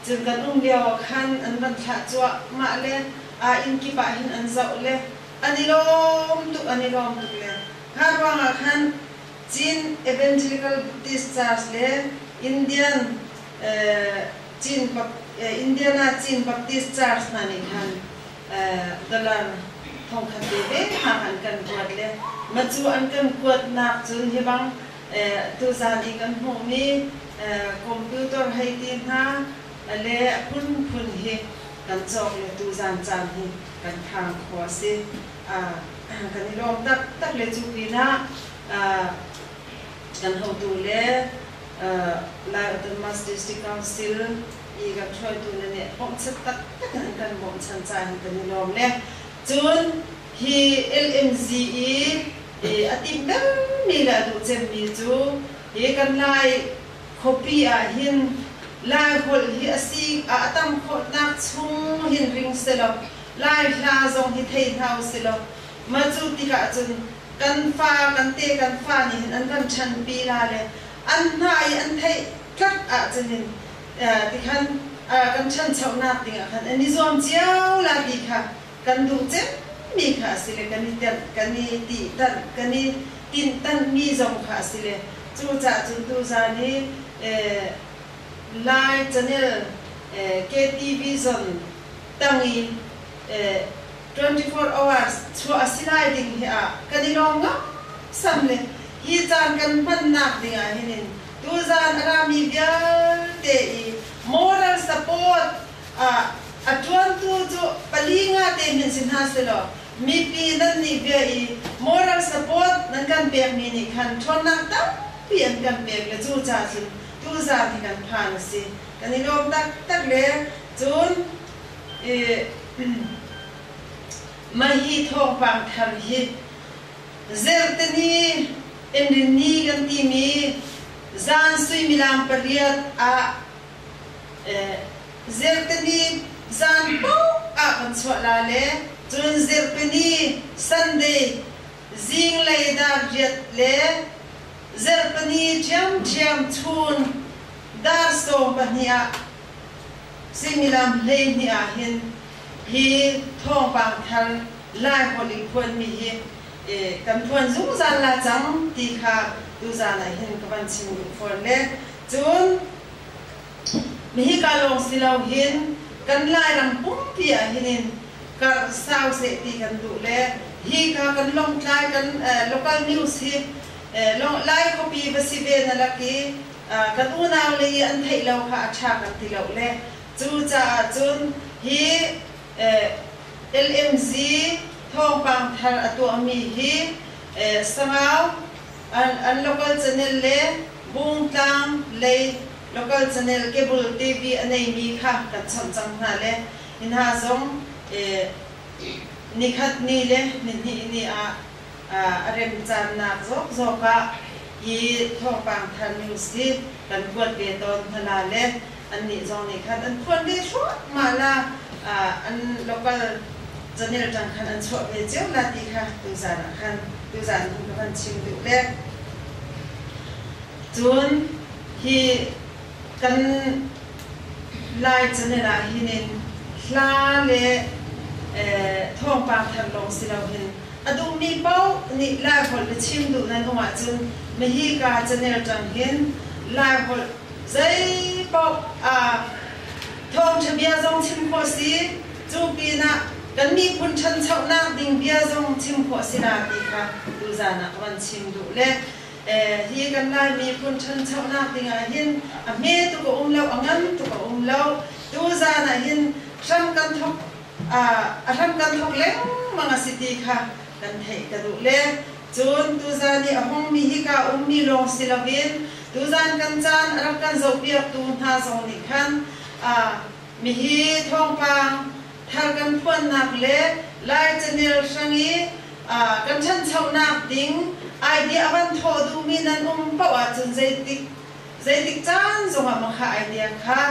Cun kan um lioah khan an van thlah cuah mah le aa inn kip ah hin an zoh le an i lawm tuk an i lawm tuk le kha ruangah khan Chin Evangelical Buddhist Church le Indian Chin Indiana Chin Baptist Church hna nih khan dollar thongkhat veve hang an kan kuat le ma cu an kan kuatnak cun hi bang tuzaan i kan hmuhmi computer hei ti hna le phunphun hi kan cawk le tuzaan caan hi kan phang khawh a si. kan i lawm taktak le cu pinah kan hotu le Lai Autonomous District Council i kan hruaitu le nih bawmhchanh taktak in kan bawmhchanh caan hi kan i lawm le cun Hi LNG i a timh dengmi le a duh cemmi cu hi kan Lai khuapi ahhin Lai holh hi a si ah a tam khawhnak chung hin ring selaw Lai hla zong hi thei hna usilaw mah cu tikah cun kan fa, kan te, kan fa nih hin an van ṭhanpi la le an hna i an theih tlat ahcun hin tikhan kan ṭhanchonak dingah khan an i zuam cio la ti kha Kan duh cemmi kha a si le kan i tenh, kan i tihtanh, kan i tinhtanhmi zong kha a si le cucaah cun tuzaan i Lai Channel KTV zon tang i twenty four hours chuah a si lai ding hi ah kan i lawm ngangsam le hi caan kan hmannak ding ah hin in tuzaan a rami vialte i moral support ah a ṭuantu cu pali ngate hin si hna sehlaw mipi nannih bia i moral support nan kan pekmi nih khan ṭhawnnak tampi an kan pek le cu ca cun tuzan hi kan phan a si. Kan i lawm taktak le cun mahhi thawngpang thar hi Zerteni Inrinni kan timi zan suimilam pariat ah Zirtini zan paoh ah kan chuah la le cun Zirtini, Sunday, zinglei dar riat le Zirtini ṭhiamṭhiam chun dar sawm pahnih ah suimilam hleihnih ah hin hi thawngpang thar Lai holh i phuanmi hi kan phuan zungzal la cang ti kha tuzan ah hin ka van chim duh fawn le Cun, hika lawng si loin kan Lairam pumpi ahhin in karh sau seh ti kan duh le hika kan Lawngtlai kan local news hi Lai khuapi va si ve na lak i kan unau le i an theih lo kha a ṭha kan ti lo le cucaah cun hi LMZ thawngpang thar a tuahmi hi Sangau an local channel le Bungtlang lei local channel cable TV a neimi kha kan chawnh cang hna le hi hna zong nikhat ni le nihnih ni ah a remcaannak zawkzawk ah hi Thawngpang Thar News hi kan kuat ve tawn hna la le annih zong nih khan an phuan ve thluahmah la an local canel tang khan an chuah ve cio la ti kha tuzan ah khan tuzan khan ka van chim duh le cun hi kan lai canel ah hinin hla le thawngpang thar lawng si lo hin a duhmi paoh nih lai holh na chim duh nan um ahcun mahika canel tang hin lai holh Zeipaoh ah thawngṭha bia zong chim khawh a si, cu pinah kan miphun ṭhanchonak ding bia zong chim khawh a si na ti kha tuzan ah van chim duh le hi kan Lai miphun ṭhanchonak ding ah hin a hme tuk a um lo, a ngan tuk a um lo. Tuzan ah hin hram kan thawk a hram kan thawk lengmang a si ti kha kan theih ka duh le cun tuzan i a hongmi hi kaa ummi lawng si loin Tuzaan kan caan a rak kan zohpiaktu hna zong nih khan mihi thawngpang thar kan phuannak le Lai canel hrang i kan ṭhanchonak ding idea a van thawh duhmi nan um paoh ahcun zeitik zeitik caan zongah mah kha idea kha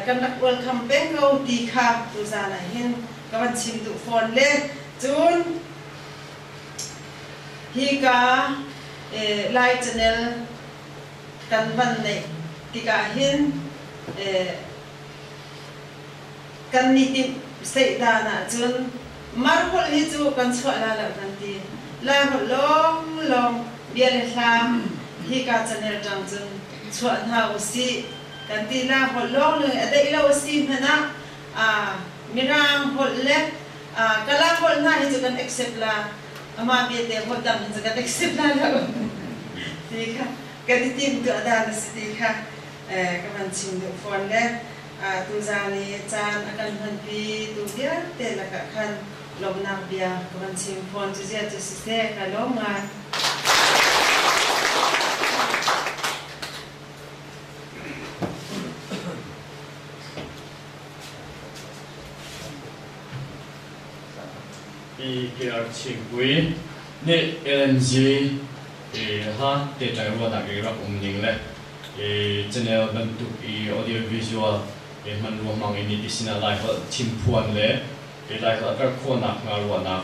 kan rak welcome peng ko ti kha tuzaan ah hin ka van chim duh fawn le cun Hika Lai Channel kan van neih tikah hin kan ni timh seih dan ahcun Mar holh hi cu kan chuah la lo kan ti. La holh lawnglawng bia le hlam hika channel ṭang cun chuah hna usih kan ti. La holh lawnglawng i a deih lo a si hmanh ah Mirang holh le Kalam holh hna hi cu kan accept la, amah vialte holh dang hi cu kan accept la lo ti kha kan i tim tu adan a si ti kha ka van chim duh fawn le tu zan i caan a kan hmanpi tu vialte lakah khan lawmhnak bia ka van chim fawn cu zia cu si se ka lawm ngai PKR Chimpui nih LNG ha tehtlai ruahnak i rak um ning le channel bantuk i audio visual hman ruangmang in iti sinah Laiholh chimphuan le Laiholh a karh khawhnak hnga ruahnak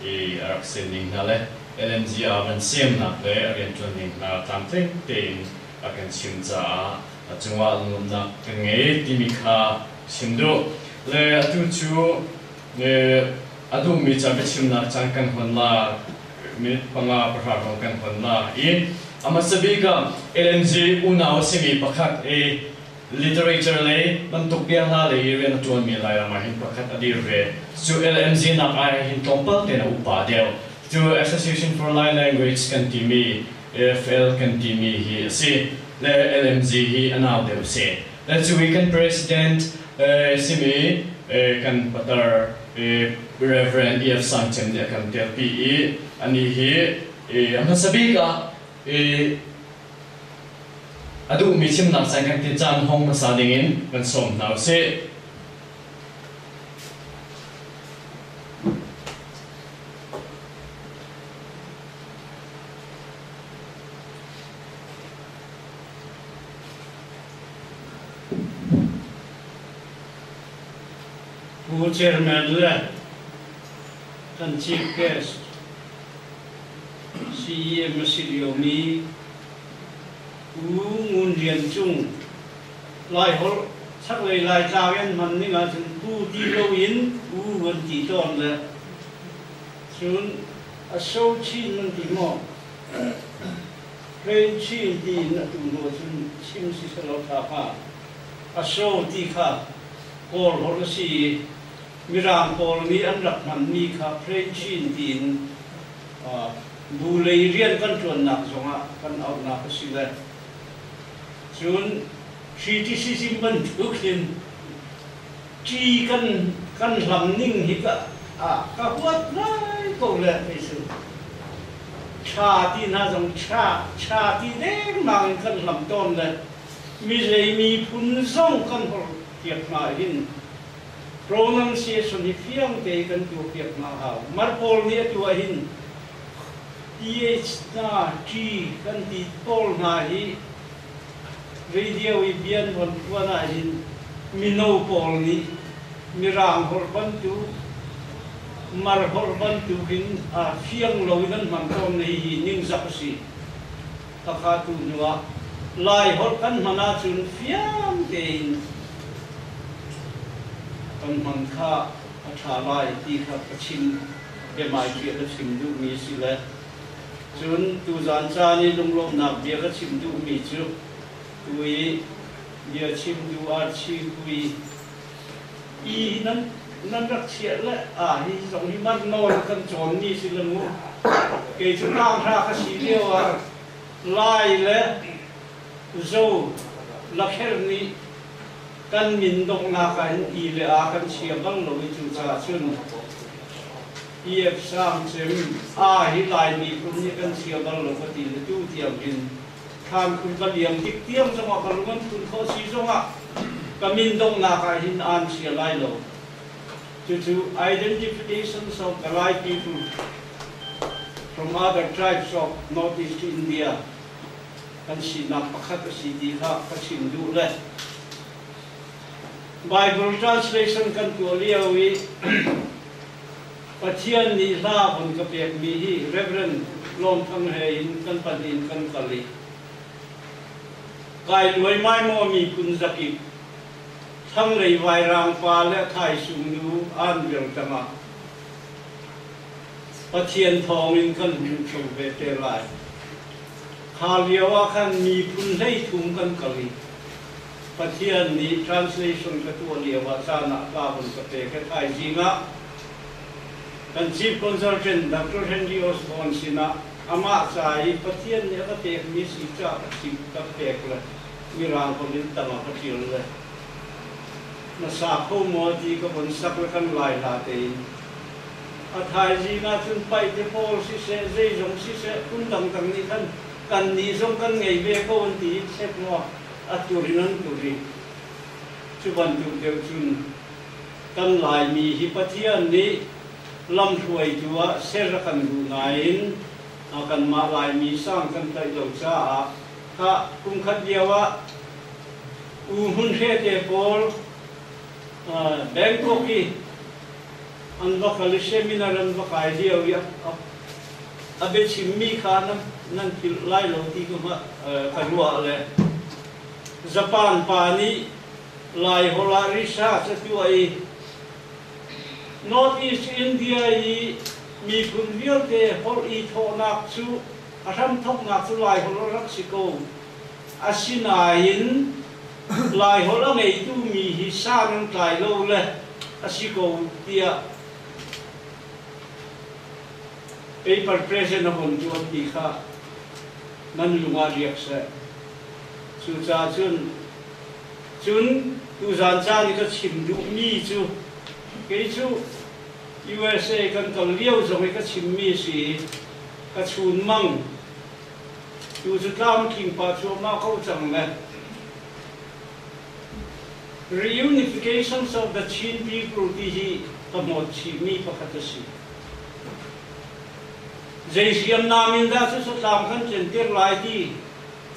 a rak sen ning hna le LNG ah van semnak le riantuan ning hna tlamtling tein a kan chim caah a cungah lunglawmhnak kan ngei timi kha chim duh. Le atu cu a duhmi ca biachimnak caan kan hon lak, minute panga pahra hrawng kan hon lak i a hmasa bik ah LNG unau a simi pakhat i literature lei bantuk bia hla lei i rian a ṭuanmi Lairam ah hin pakhat a dir ve. Cu LNG nak ai ah hin tlawmpal tein a upa deuh. Cu Association for Lai Language kan timi AFL kan timi hi a si le LMG hi a nau deuh si le cu i kan President simi kan patar Rev. Iv Sangcem nih a kan piakpi i anih hi a hmasa bik ah a duhmi thimnak sein kan ti caan hong hmasa dingin kan sawm hna usih. Pu Chairman le kan Chief Guest CEM a si liomi Pu Ngun Rian Cung Laiholh chaklei Laitlang in hman ning ahcun Pu ti loin Pu an ti tawn le cun Asho chin nan ti maw? Hren chin tiin a tu hnu cun chim si selo tha hnga. Asho ti kha Kawl holh a si i Mirang pawl nih an rak hmanmi kha Hren chin tiin bu lei rian kan ṭuannak zongah kan auhnak a si le cun Criticism bantuk in Ṭi kan kan hlam ning hi ka ah ka huat ngai ko le kei cu. Ṭha ti hna zong ṭha, ṭha ti dengmang in kan hlam tawn le mizei miphun zong kan hor piak hna hin pronunciation hi fiang tein kan tuah piak hna hau. Mar pawl nih atu ah hin PH hna ṭi kan ti pawl hna hi Radio i bia nuam tuan ahhin mino pawl nih Mirang holh bantuk, Mar holh bantuk in aa fiang lo i kan hman tawn na hihi ningzak a si. Khakha tu hnuah Lai holh kan hman ahcun fiang tein kan hman kha a ṭha lai ti kha ka chim, biahmaipi a ka chim duhmi a si le Cun tuzan caan i lunglawmhnak bia ka chim duhmi cu tu i bia chim duh ah chihmui i nan, nan rak chiah le aa hi zong hi man nawl kan cawnmi si le mu kei cu ṭanghra ka si lio ah lai le zo lakher nih kan min donghnak ah hin ti le a kan chia bang lo i cucaah cun TF Hrang cim, Aa hi Lai miphun nih kan chia bal lo ka ti le tu tiang hin thlan phun ka liam tik tiang zongah ka lung an phun khawh si zongah ka min donghnak ah hin aan chia lai lo. Cucu identification of the Lai people from other tribes of Northeast India kan sinak pakhat a si ti kha ka chim duh le Bible translation kan tuah lio i Pathian nih hla vun ka pekmi hi Rev. Lawmthang he in kan pahnih in kan kal i kai luaimai maw miphun zakip thlanglei vairaang pa le thaisung nu an vial tangah Pathian thawng in kan hun chung ve te lai. Kha lio ah khan miphun hlei thum kan kal i Pathian nih translation ka tuah lio ah caan ah ka hun ka pek i thaizing ah kan Chief Consultant Doctor Henry Osborne sinah amah ca i Pathian nih a ka pekmi si caah ka chim ka pek le Mirang holh in tangah ka ṭial le hmasa kho maw ti ka von sak le kan lai hla tein a thaizing ah cun paih te pawl siseh zeizong siseh phun dangdang nih khan kannih zong kan ngei ve ko an ti i chek maw Atu in an put i cu bantuk deuh cun kan Laimi hi Pathian nih lamhruaitu ah ser a kan duh nain kanmah Laimi sang kan tlaih lo caah khah kumkhat lio ah U Hmun Hre te pawl Bangkok i an va kal i seminar an va kai lio i a biachimmi kha nan philh lai lo ti ka ruah le Japan pa nih Laiholh ah research a tuah i North East India i miphun vialte holh i thawhnak cu a hramthoknak cu Laiholh a rak si ko Asinain Laiholh a ngeitu mi hi sang an tlai lo le a si ko tiah paper present a vun ṭuan ti kha nan lungah riak seh. Cucahcun cun tuzan caan i ka chim duhmi cu kei cu USA kan kal lio zong i ka chimmi a si i ka chunmang Tu cu tlamtling pah cuahmah ko cang le reunifications of the Chin people ti hi ka hnawt chihmi pakhat a si. Zei hriamnam in dah cu sutlam kan centir lai ti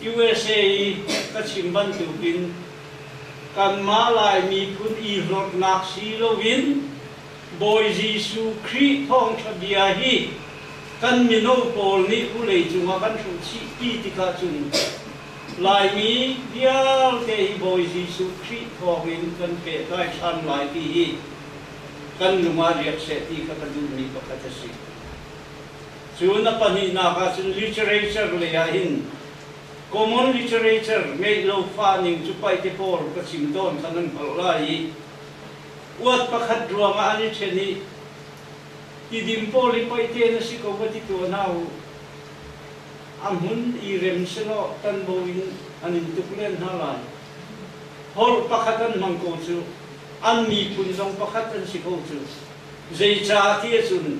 USA i ka chim bantuk in kanmah Lai miphun i hlorhnak si loin Bawi Jesuh Khrih thawngṭha bia hi kan mino pawl nih vawleicung ah kan hrawhchih ti tikah cun Laimi vialte hi Bawi Jesuh Khrih thawngin kan pehtlai ṭhan lai ti hi kan lungah riak seh ti kha ka duhmi pakhat a si. Cun a pahnihnak ah cun literature lei ah hin common literature ngeih lo fah ning cu paih te pawl ka chim tawn kha nan hngalh lai i uat pakhat ruangah an i ṭhen i tidim pawl hi poih te na si ko va ti tuah hna u. A hmun i rem selaw tanbo in an in tuk len hna lai. Hor pakhat an hmang ko cu, an miphun zong pakhat an si ko cu. Zeicah ti ahcun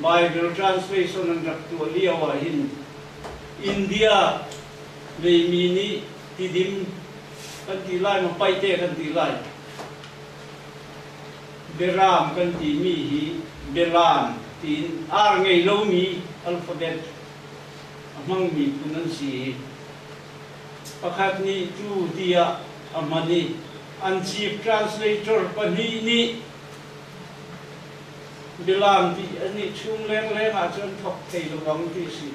Baibal translation an rak tuah lio ah hin India meimi nih tidim kan ti lai ma paih te kan ti lai Biaram kan timi hi bialam tiin ar ngei lomi alphabet a hmangmi phun an si i pakhat nih cu tiah a hman i an chief translator pahnih nih bialam ti an i chung lengleng ahcun thok thei lo ang ti a si.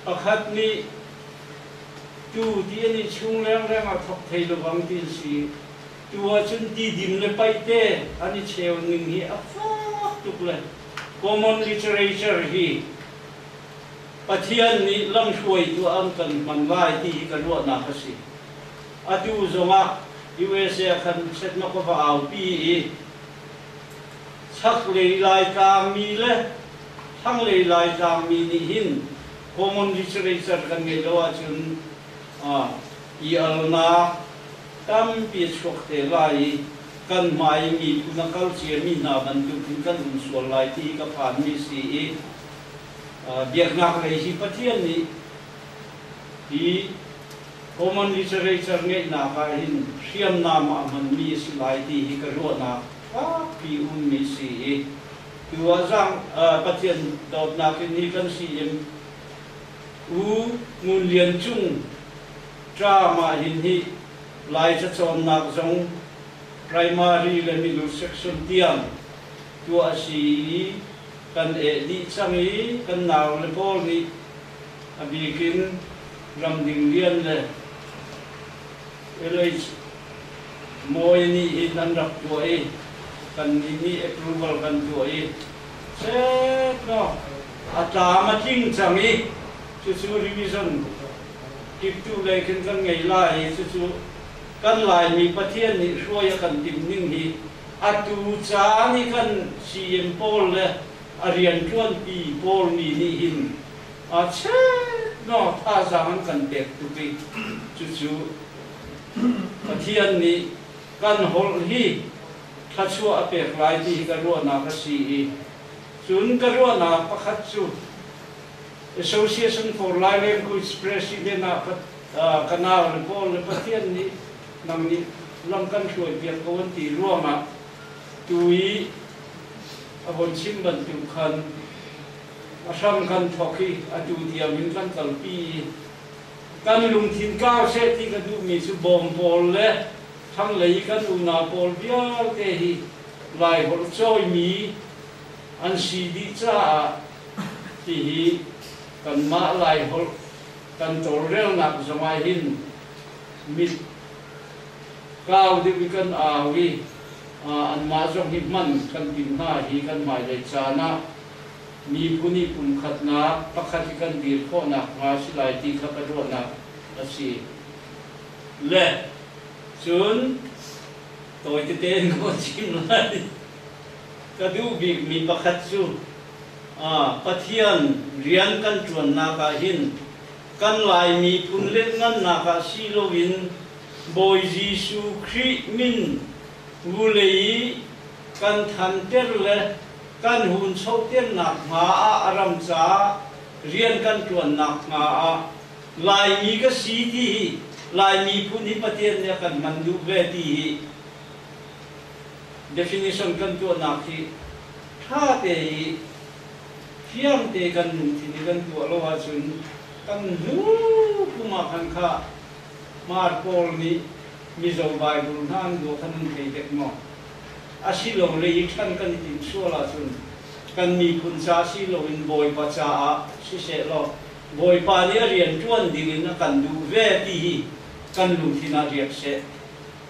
Pakhat nih Tu ti an i chung rengreng ah thawk thai lo bang ti a si. Tu ahcun tidim le paih te an i cheu ning hi a fak tuk le common literature hi Pathian nih lamhruaitu ah an kan hman lai ti hi ka ruahnak a si. Atu zongah USA ah khan setnak va aupi i chaklei Laitlang mi le thlanglei Laitlang mi nih hin common literature kan ngeih lo ahcun ialnak tampi a chuak te lai i kan hmaimi na kal ciami hna bantuk in kan um sual lai ti hi ka phanmi a si i biaknak lei hi Pathian nih hi common literature ngeihnak ah hin hriamnam ah hmanmi a si lai ti hi ka ruahnak fakpi ummi si i Cu ah Zang, Pathian dawtnak in hi kan si in U Ngun Lian Cung Tra Mahin hi Laica cawnnak zong Primary le Milu Section tiang tuah a si i kan eh dih cang i kan nau le pawl nih a bik in Ramding Lian le Kalay, Mawi nih hin an rak tuah i kannih nih approval kan tuah i chep lawng a tlam a tling cang i cucu revision timhtuh lei khin kan ngei lai i cucu kan Laimi Pathian nih hruai a kan timh ning hi atu caan i kan CM pawl le a rianṭuanpi pawl mi nih hin Achiatnak thazaang an kan pek tuk i cucu Pathian nih kan holh hi thluachuah a pek lai ti hi ka ruahnak a si i cun ka ruahnak pakhat cu Association for Lai Language President ah ka nau le pawl le Pathian nih nang nih lam kan hruaipiak ko an ti ruangah tu i a von chim bantuk khan a hram kan thawk i atu diam in kan kalpi. Kan lungthin kar seh ti ka duhmi cu bawm pawl le thlanglei i kan unau pawl vialte hi Laiholh cawimi an si dih caah hihi kanmah Laiholh kan tawlrelnak zongah hin mit kau deuh i kan au i anmah zong hi hman kan timh hna hi kan hmailei caan ah Mibu nih pumkhatnak pakhat hi kan dir khawh nakhnga si lai ti kha ka ruahnak a si. Le cun tawi tete in ka van chim lai. Ka duh bikmi pakhat cu Pathian rian kan ṭuannak ah hin kan Laimi phun lianhngannak ah si loin Bawi Jesuh Khrih min vule i kan thanter le kan hunchohter nakhnga ah a ram caah rian kan ṭuan nakhnga ah Laimi ka si ti hi Laimi phun hi Pathian nih a kan hman duh ve ti hi definition kan tuahnak hi ṭha te i fiang te kan lungthin i kan tuah lo ahcun kan hnu kum ah khan kha maar pawl nih Mizo Bible hna an duah kha nan thei dek maw? Asilole i ṭhen kan i timh sual ahcun kan miphun ca si loin Bawipa caah siseh law Bawipa nih a rianṭuan dingin a kan duh ve ti hi kan lungthin ah riak seh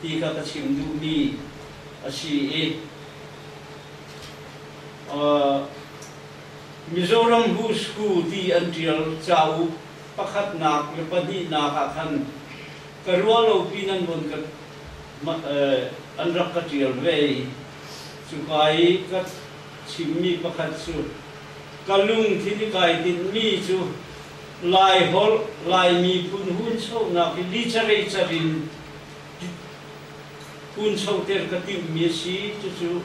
ti kha ka chim duhmi a si i Mizoram Who's Who ti an ṭial cauk pakhatnak le pahnihnak ah khan ka ruahlopi nan vun ka an rak ka ṭial ve i cuka i ka chimmi pakhat cu, Ka lungthin i kai tinhmi cu Laiholh Lai miphun hunchonak i literature in hunchoter ka timhmi a si, cucu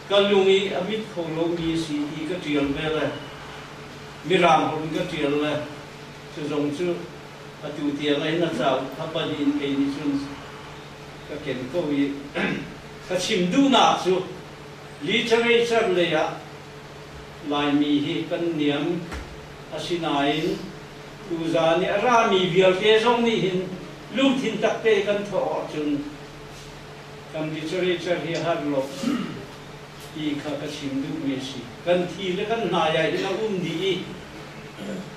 ka lung i a mit kho lomi a si ti ka ṭial ve le Mirang holh in ka ṭial le cu zong cu Atu tiang in a cauk thapal in kei nih cun ka ken ko i ka chim duhnak cu literature lei ah Laimi hi kan niam, asinain tuza nih a rami vialte zong nih hin lungthin takte kan thawh awk cun kan literature hi har law ti kha ka chim duhmi a si. Kan thi le kan hnaiai ding a um dih i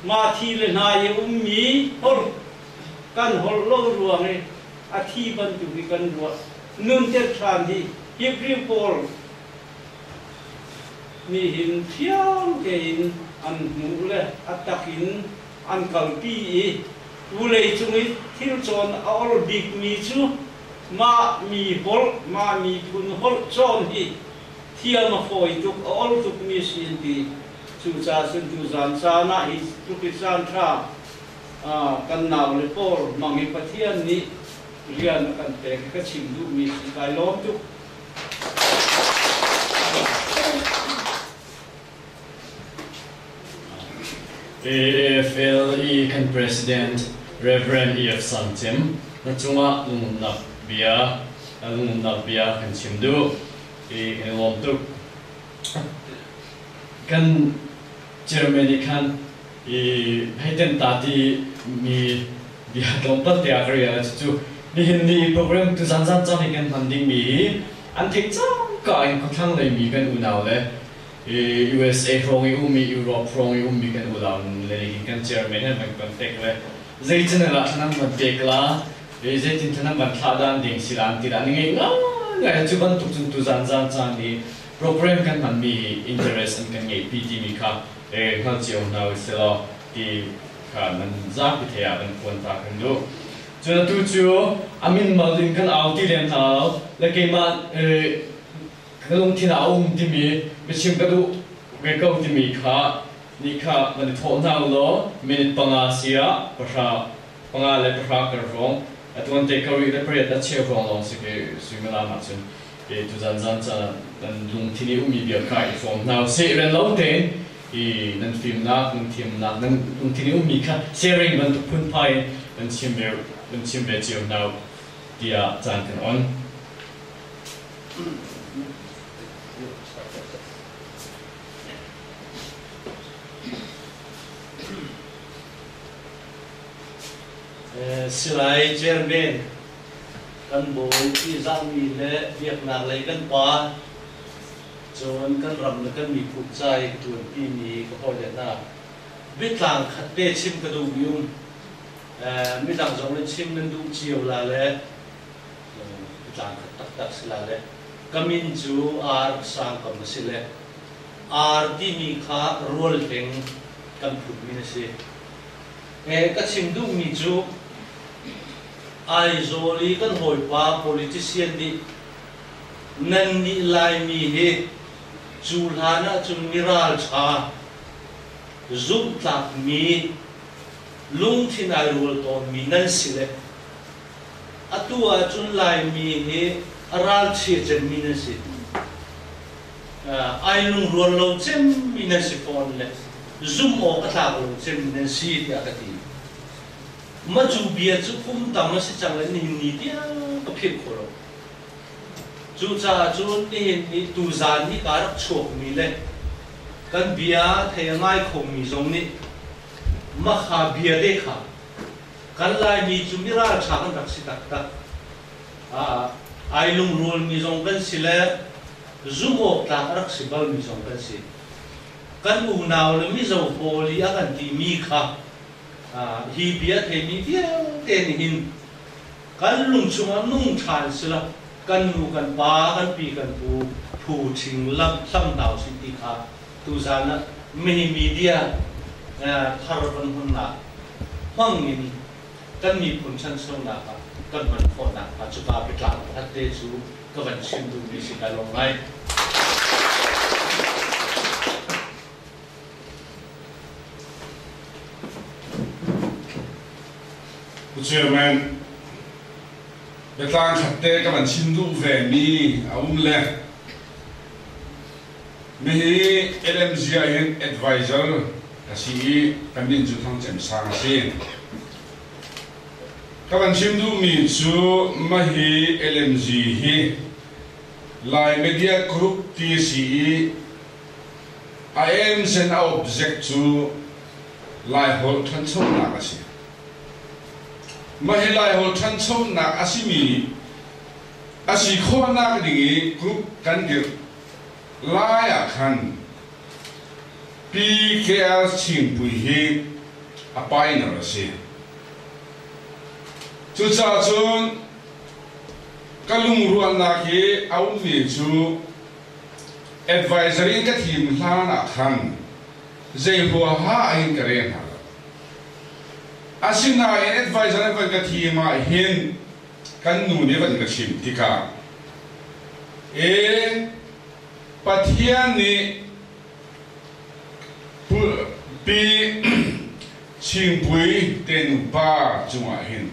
mah thi le hnai i ummi holh kan holh lo ruang i a thi bantuk i kan ruah nuntet ṭhan hi Hebrew pawl nih hin fiang tein an hmuh le a tak in an kalpi i vawlei cung i thil cawn a or bikmi cu Mah mi holh, mah miphun holh cawn hi thiam a fawi tuk, a ol tukmi si an ti. Cucaah cun cu zan caan ah hi tluk i caanṭha kan naule pawl mang hi Pathian nih rian a kan pek hi ka chim duhmi si kai lawm tuk. AFL i kan President Rev. EF. San Cem na cungah lungumnak bia kan chim duh i kan i lawm tuk. Kan chairman nih khan hei ten ta ti mi bia tlawmpal te ah ka rel cucu nihin ni program tu zanzan cang i kan hman dingmi hi an theih cangka in khuathlang lei mi kan unau le usa hrawng i ummi Europe hrawng i ummi kan unau nule hi kan chairman van kan pek le zei channel ah nan van pek la, zeitin cu nan van thlahdan ding si la an ti la an ngeih ngaingai cu bantuk cun tu zan zan caan i program kan hmanmi hi interest an kan ngeihpi timi kha hngal cio hna u selaw ti kha nan zapi thei ah kan phuan ta kan duh cun atu cu a min mal in kan au ti len hau le keimah na lungthin ah a um timi na chim ka duh ve ko timi kha ni kha nan i thawh hna ulaw minute panga sia pahra panga le pahra kar hrawng a tuan te ka rih le pariat a cheu hrawng lawng si ke suimilam ah cun e tu zan zan ca nan lungthin i ummi bia kha i fawm hna se i ren lo tein i nan fimnak nan thiamnak nan lungthin i ummi kha sharing bantuk phun phai in nan chim ve nan chim ve cio hna tiah caan kan on silai Jermain kan bawi ti zahmi le biaknak lei kan pa cun kan ram le kan miphun cai tuan timi ka hawi le hna biatlang khat te chim ka duh mi um midang zong nih chim nan duh cio la le Cun a caan khat taktak si la le ka min cu ar sangkam a si le ar timi kha rual hling kan phunmi na si. He ka chim duhmi cu Aizawl i kan hawipa politician nih nan nih Laimi hi cu hlan ahcun mi ralṭha, zumhtlakmi, lungthin ai rual tawnmi nan si le Atu ahcun Laimi hi ralchia cemmi na si, ai lungrual lo cemmi na si fawn le zumh awk a tlak lo cemmi na si tiah ka ti. Matu bia cu kum tam a si cang le ningni tiang ka philh khawh lo. Cucaah cun nihin i tuzaan hi kaa rak chuakmi le kan bia thei a ngai khomi zong nih Makha bia te kha Kan Laimi cu miralṭha kan rak si taktak. Ai lungrulmi zong kan si le zumhawktlak a rak si balmi zong kan si. Kan unau le mizo pawl i a kan timi kha hi bia theimi vialte nih hin kan lung chungah nung ṭhan sila kan nu, kan pa, kan pi, kan pu phu ṭhing lak hlam hna usih ti kha tuzan ah mihi media thar kan hmannak hmang in kan miphun ṭhanchonak ah kan hman khawhnak hnga cuka biatlang pakhatte cu ka van chim duhmi si ka lawm ngai. Pu Chairman, biatlang khatte ka van chim duh vemi a um le Nihi LMZ ah hin advisor ka si i kan min cu Thang Cem Sang a si. Ka van chim duhmi cu mahi LMZ hi Lai Media Group ti a si i a aims and a object cu Laiholh ṭhanchonak a si. Mahi Laiholh ṭhanchonak a simi a si khawhnak ding i group kan dirh lai ah khan PKR Chingpui hi a pioneer a si. Cucaah cun ka lungrualnak i a ummi cu advisory in ka thim hlan ah khan zei huaha in ka rel hna lo. Asinain advisor in van ka thim ah hin kan nu nih van ka chim tikah e Pathian nih pi chingpui ten upa cungah hin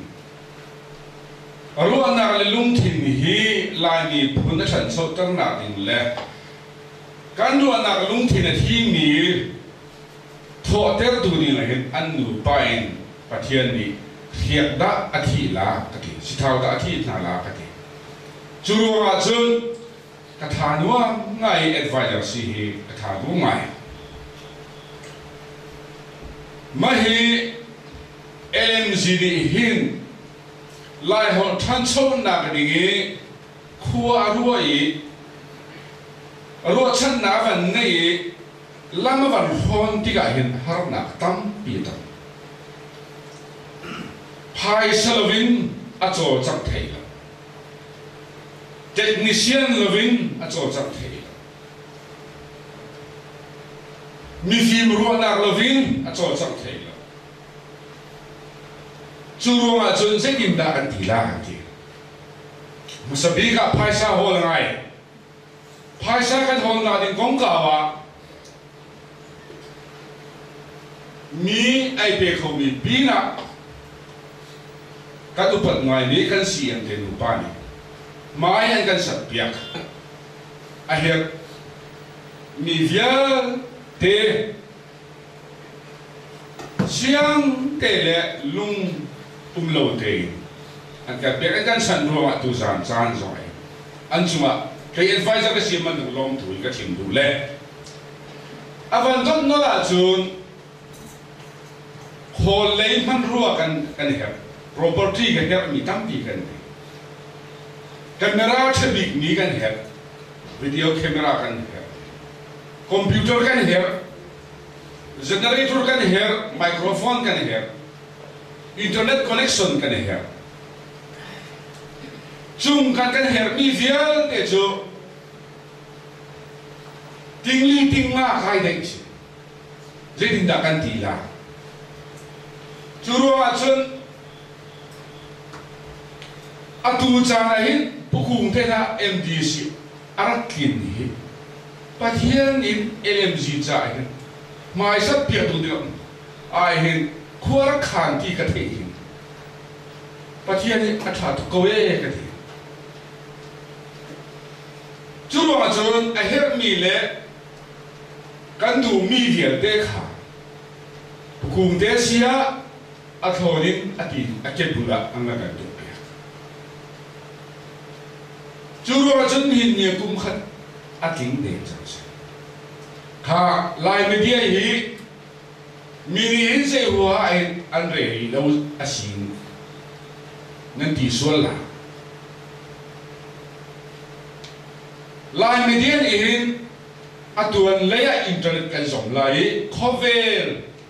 ruahnak le lungthin hi Laimi phun a ṭhanchoternak ding le kan ruahnak lungthin a thimi Thawhtertu ning ah hin an nupa in Pathian nih hriak dah a thih la ka ti, sithau dah a thih hna la ka ti. Cu ruangah cun ka tha nuam ngai i advisor si hi ka tha bu ngai. Mah hi LMZ nih hin Laiholh ṭhanchonak ding i khua a ruah i ruahchannak van ngeih i Lam a van hawn tikah hin harnak tampi a tong. Phaisa loin a cawlcangh thai lo. Technician loin a cawlcangh thai lo. Mifim ruahnak loin a cawlcangh thai lo. Cu ruangah cun zeitindah kan ti la an ti. Hmasa bik ah phaisa hawl a ngai. Phaisa kan hawn kaa ding kongkau ah mi ei pe khomi pinah kan upat ngaimi kan si an te nupa nih mah hi an kan sakpiak a herh mi vialte Siangte le lung um lo tein an kan pek an kan sanh ruangah tuzaan caan zong in an cungah kei advisor ka si bantuk lawmthu in ka chim duh le a van donh nawl ahcun khawl lei hmanrua kan kan i herh property kan herhmi tampi kan ngei camera ṭha bikmi kan herh video camera kan herh computer kan herh generator kan herh microphone kan herh internet connection kan herh cung kan kan herhmi vialte cu tingli tingma kai dei si zeitindah kan ti la cu ruangah cun atu caan ah hin pukung te kha MDC a rak tlinmi hi Pathian nih LMG caah hin hmaisat piaktu dingah ai hin khuarkhan ti ka theih hin Pathian nih a ṭha tuk ko ee ka ti cu bang cun a herhmi le kan duhmi vialte kha kungte sia a thlawn in a ti a kepbul ah an rak kan tuahpiak Cu ruangah cun nihin ni kum khat a tling deng cang si. Kha Lai media hi mi nih hin zei hua in an rel rih lo a si nan ti sual la. Lai media nih hin atuan lei ah internet kan zom lai i khawvel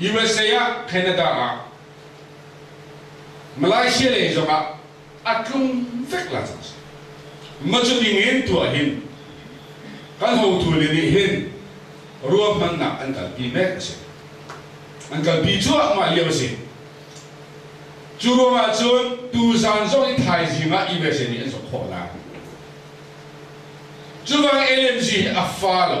USA ah Canada ah Malaysia lei zong ah a tlung vek la cang si macu dingin tuah hin kan hotu le nih hin ruahmannak an kalpi mek a si an kalpi cuahmah lio a si cu ruangah cun tuzaan zong i thaizing ah USA nih an zok khawh lai cubang LMG hi a fa lo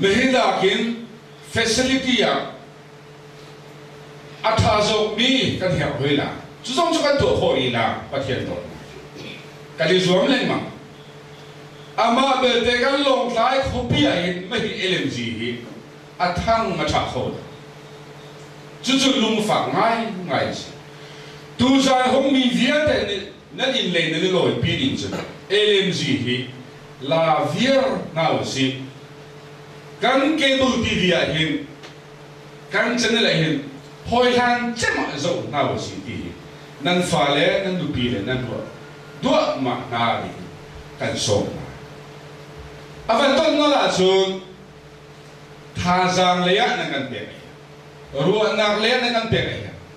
Nihin ahhin facility ah a ṭha zawkmi kan herh hoi la. Cu zong cu kan tuah khawh i la, Pathian dawtnak cu. Kan i zuam lengmang. Amah belte kan Lawngtlai khuapi ahhin mahhi LMG hi a thang a ṭha kho lo. Cucu lungfak ngaingai a si. Tuzan hungmi vialte nih Na innlei nan i lawipi ning cun LMG hi la viar hna usih. Kan cable TV ah hin kan channel ah hin hawihlan cem ah zoh hna usih ti hi nan fale, nan nupi le nan ruah duahmah hna tiin kan sawm hna. A van ton nawl ahcun thazaang lei ah nan kan pek ai hian, ruahnak lei ah nan kan pek ai hian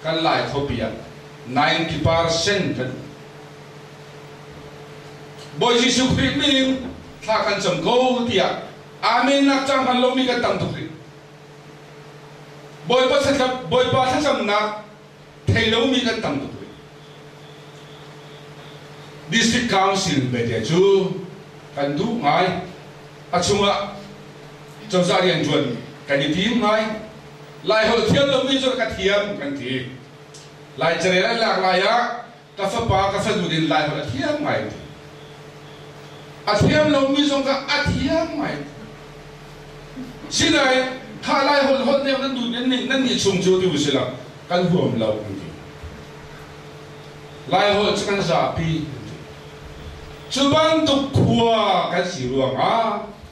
kan lai khopi ah ninety percent kan Bawi Jesuh Khrih min thla kan cam ko tiah Amen nak cang hman lomi kan tam tuk rih. Bawipa thlacam Bawipa thlacamnak thei lomi kan tam tuk rih. District Council belte cu kan duh ngai. A chungah cozah rianṭuan kan i tim ngai. Laiholh thiam lomi cu ka thiam kan ti. Lai carel an lak lai ah ka fapa ka fanu din Laiholh a thiam ngai ti. A thiam lomi zong kha a thiam ngai ti. Sinain kha Laiholh holh nih nan dun nan nan nih chung cio ti u si lo kan huam lo an ti. Laiholh cu kan zapi an ti. Cu bantuk khua kan si ruangah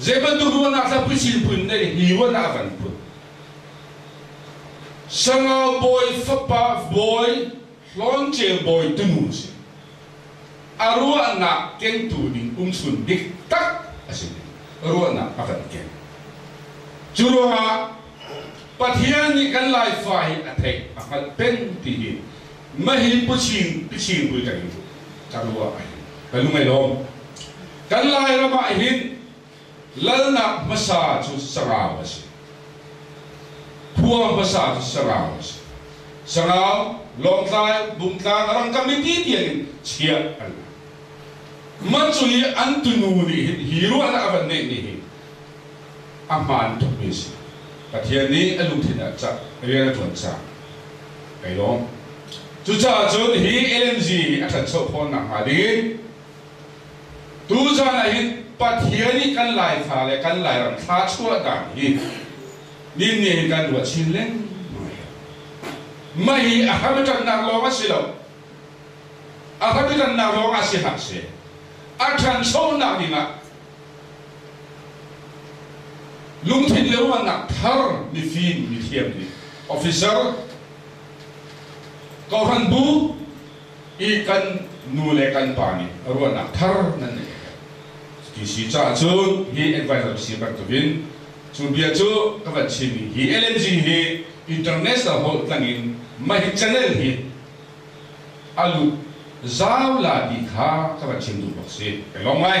Zeibantuk ruahnak hrampi silpun nih hi ruahnak a kan put? Sangau bawi fapa bawi Hlawnceu bawi tunu a si. A ruahnak kengtu ding umchun dik tak a si ruahnak a kan keng. Cu ruangah Pathian nih kan Laifa hi a theih a hngalh peng ti hi mahhi Puchin Pichin Bulṭang in ka ruah ahhin ka lung ai lawm. Kan Lairam ah hin lalnak hmasa cu sarau a si. Khua hmasa cu sarau a si. Sarau, Lawngtlai, Bungtlang rangka mipi tiang in chiah an la. Man cu hi an tunu nih hin hi ruahnak a van ngeihmi hi a hmaan tukmi a si. Pathian nih a lungthin ah cak, rian a ṭuan cang. Kai lawm. Cucaah cun hi LMZ hi a ṭhancho fawn nakhnga ding in Tuzan ah hin Pathian nih kan Laifa le kan Lairam thla chuahnak hi ninne hin kan ruah chin lengmang. Mah hi a hramṭannak lawng a si lo. A hramṭannak lawng ah si hlah seh, a ṭhanchonak ding ah lungthin le ruahnak thar mifim, mithiam nih officer, kohhran bu, i kan nu le kan pa nih ruahnak thar nan nei ka TC caah cun hi environmental bantukin cu bia cu ka van chimmi hi LNG hi international holh tlangin mah channel hi a lut zau la ti kha ka van chim duh bak si ka lawm ngai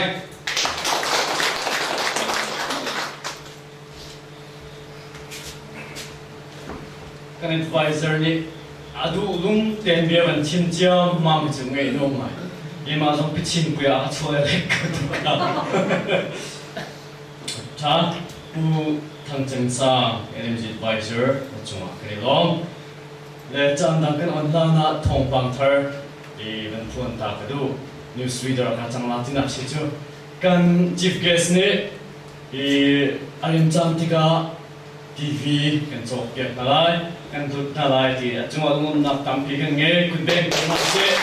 Kan advisor nih a duh lung tein bia van chim ciammam cu ngei no mai. Mimah zong pichin pui ah a chuai lek ka tuah. Tha Pu Thang Ceng Sang, NMG advisor, cungah kan i lawm. Le caan dang kan on hlan ah thawngpang thar i van phuan ta ka duh. News reader hna cang la tinak si cu kan chief guest nih Hi a in cam tikah TV kan cawkpiak hna lai, kan hlut hna lai ti a cungah lawmnak tampi kan ngei. Kun deng ko hlah sih.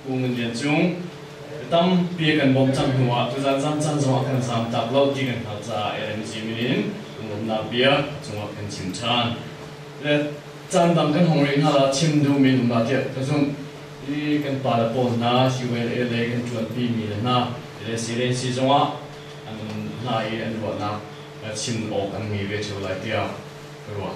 Pu Ngun Lian Cung, mi tampi kan bawmh cang hnu ah tuzaan zam caan zongah kan zam tak lo ti kan hngalh caah LMG min in kan lawmnak bia cungah kan chim ṭhan. Le caan dang kan hong rih hna lah, chim duhmi in um lah tiah ka zumh. Hi kan pale pawl hna ULA lei kan ṭuanpi mi le hna le silensi zongah an um hna i an ruahnak chim awk an ngei ve ṭheo lai tiah ka ruah.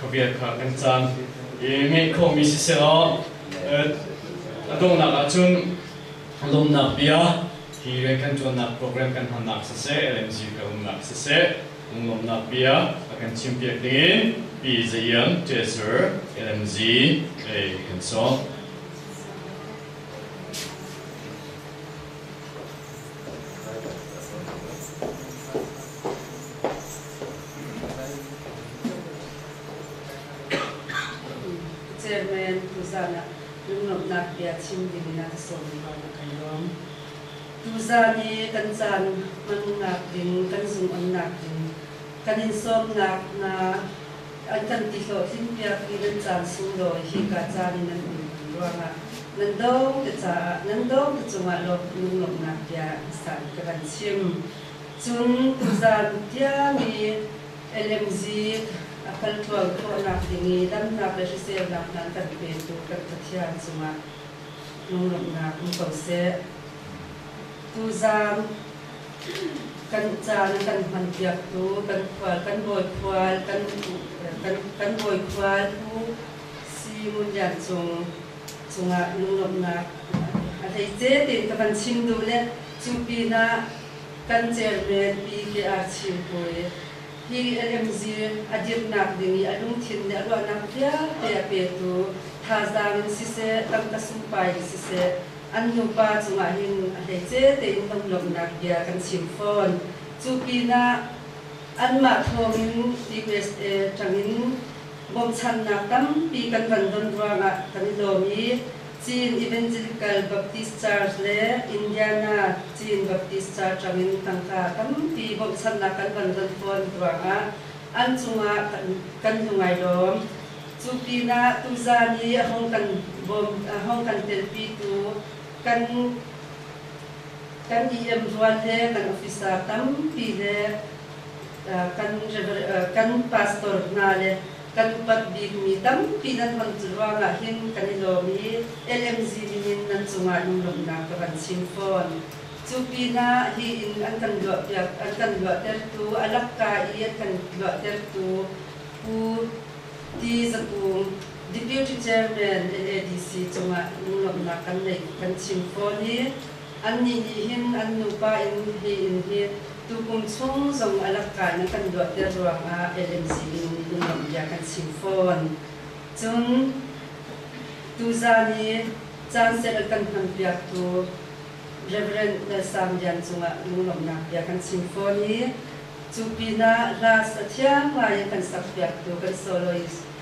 khabiak kha kan caan ngeih khawhmi siseh a donghnak ahcun lawmnak bia hi kan tuannak program kan hmannak siseh LMG kan umnak siseh lawmnak bia a kan chimpiak ding in Pi Zayan Treasure LMG kan sawm. Chairman tuzan ah lunglawmhnak bia chim dingin a ka sawm ruang a kan lawm. Tuzan i kan caan hmannak ding, kan zungonnak ding, kan in sawmnak hna an kan ti hlawhtlin piak i nan caan sunglawi hika caan in nan um kan ruangah nan do ka caah nan do ka cungah lawm lunglawmhnak bia sak ka van chim. Cun tuzan tiang i LMZ a palṭual khawhnak ding i damnak le hriselnak hna kan petu kan Pathian cungah lunglawmhnak um ko seh. Tuzan kan caan a kan hmanpiaktu kan khual kan bawi khual kan kan kan bawi khual Pu Si Ngun Lian Cung cungah lunglawmhnak a thei te tiin ka van chim duh le cu pinah kan chairman PKR-Chin hawi hi AMZ a dirnak ding i a lungthin le a ruahnak vialte a petu thazaang in siseh, tangka sungpai in siseh, an nupa cungah hin a hleice tein hnamlawmhnak bia kan chim fawn. Cu pinah anmah thawngin TBSA ṭangin bawmhchanhnak tampi kan van don ruangah kan i lawm i Chin Evangelical Baptist Church le Indiana Chin Baptist Church tangin tangka tampi bawmhchanhnak kan van don fawn ruangah an cungah kan tlu ngai lawm. Cu pinah tuzaan i a hong kan bawm, a hong kan telpitu kan kan EM rual le kan officer tampi le kan, kan pastor hna le Kan upat bikmi tampi nan hman cu ruangah hin kan i lawm i LMZ ningin nan cungah lunglawmhnak ka van chim fawn. Cu pinah hi in an kan luahpiak an kan luahtertu a lakka i an kan luahtertu Pu Ti Za Kung, Deputy Chairman, LADC, cungah lunglawmhnak kan nei kan chim fawn i Annih nih hin an nupa in hi in hi tukum chung zong a lakka na kan luatter ruangah LMC in i nuamh bia kan chim fawn. Cun, tuzaan i caansel kan hmanpiaktu Rev. Lalsang Lian cungah lunglawmhnak bia kan chim fawn i, cu pinah hlas a thiam ngai i kan sakpiaktu kan soloist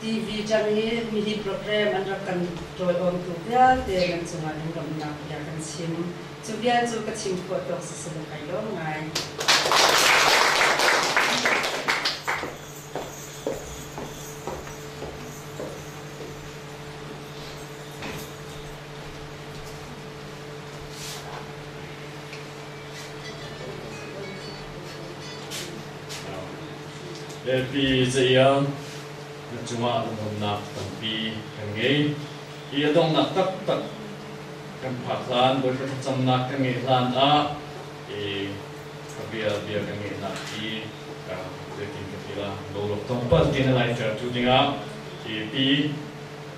TV chan hi nihin program an rak kan tawiawmtu vialte nan cungah lunglawmhnak bia kan chim. Cu bia cu ka chim khawh tawk si si ka kai lawm ngai. Biapi cayam na cungah dawtnak tampi kan ngei. Hi a donghnak taktak kan phak hlan, Bawipa thlacamnak kan ngeih hlan ah i ka bia bia kan ngeih hlan hi ka zeitin ka ti la, lolok tongpal tiin a laitertu dingah hi pi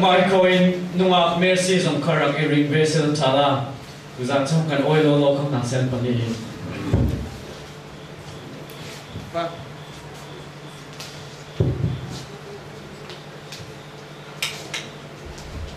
Michael in nungak Messi zong kha rak i ring ve se zong tha la. Kuzan chang kan oi lo lo kham nang sen pani.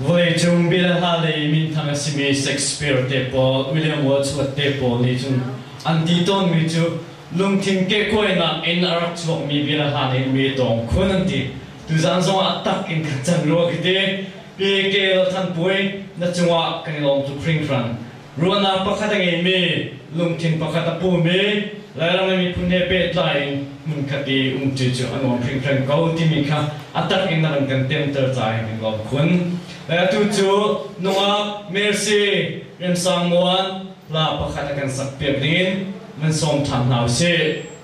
Vawleicung bilha lei minthang a simi Shakespeare te pawl, William Wordsworth te pawl nih cun an ti tawnmi cu lungthin kehkuainak in a rak chuakmi bialaha nih mi a tawng khun an ti. Tuzaan zong ah tak in kan can rua ka ti. Pi Kel Than Pui, na cungah kan i lawm tuk hringhran. Ruahnak pakhat a ngeimi, lungthin pakhat a pumi, Lairam le miphun he pehtlai in hmunkhat i umṭi cu a nuam hringhran ko timi kha a tak in a run kan temter caah hin kan lawm khun. Atu cu nungak mercy Remsang Muan hla pakhat a kan sakpiak ning in van sawm ṭhan hna usih.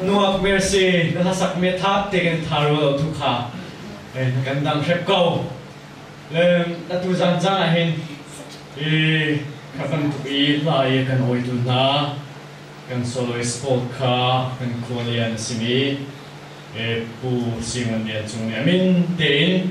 Nuak mercy na hlasak me thap te kan tharu lo thu kha kan dang hrep ko leng na tu zan zang ah hin i khatam tuk i hla i kan oitu hna kan solo sport kha kan khualian a simi pu Simon Lian Cung nih amin tein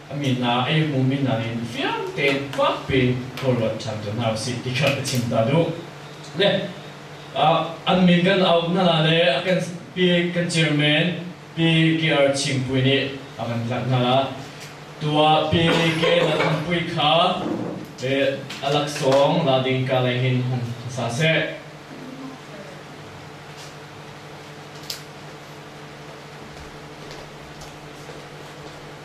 A mi hna eihmumi hna nih fiang tein fak piin khuaruat ṭhan ko hna u sih ti kha a chim ta duh. Le an min kan auh hna le a kan pi kan chairman Pi KR Chimpui nih a kan tlanh hna. Tuah Pi Ke Na Thampui kha a laksawng la ding ka lei hin hung sa seh.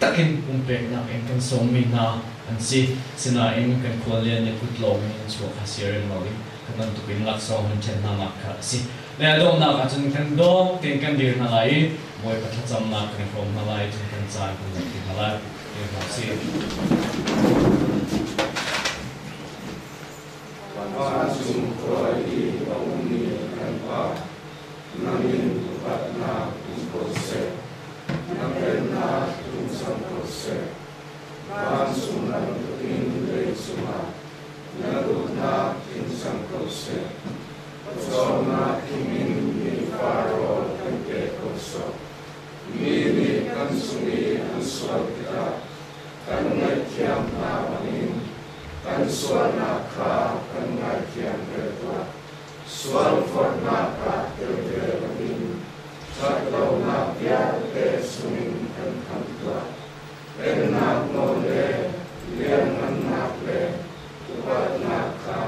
takin pumpeknak in kan sawmmi hna an si. Sinain kan khualian le kut lawng in a chuak kha si a rem lo i hi bantukin laksawng hun ṭhen hna nak kha a si. Mei a donghnak ahcun kan dawng tein kan dir hna lai i Bawipa thlacamnak kan i hrawm hna lai i cun kan caan kan ngaih ti hna lai, ti hna u sih. Bawipa an sung hruai i a ummi kan Pa. Na min upatnak um ko seh, na velnak tumsam ko seh. Vancung bantukin leicungah na dawtnak thinsam ko seh. Pawcawmnak thingin mi faraw kan pe ko sawh. Mi nih kan sung i an sual tikah kan ngaihthiam hna bangin kan sualnak kha kan ngaithiam ve tuah. Sualphuannak ah telvel in ṭhatlonak vialte sungin kan khamh tuah. Pennak nawl le lianngannak le upatnak kha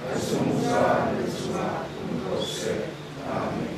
a zungzal na cungah um ko seh. Amen.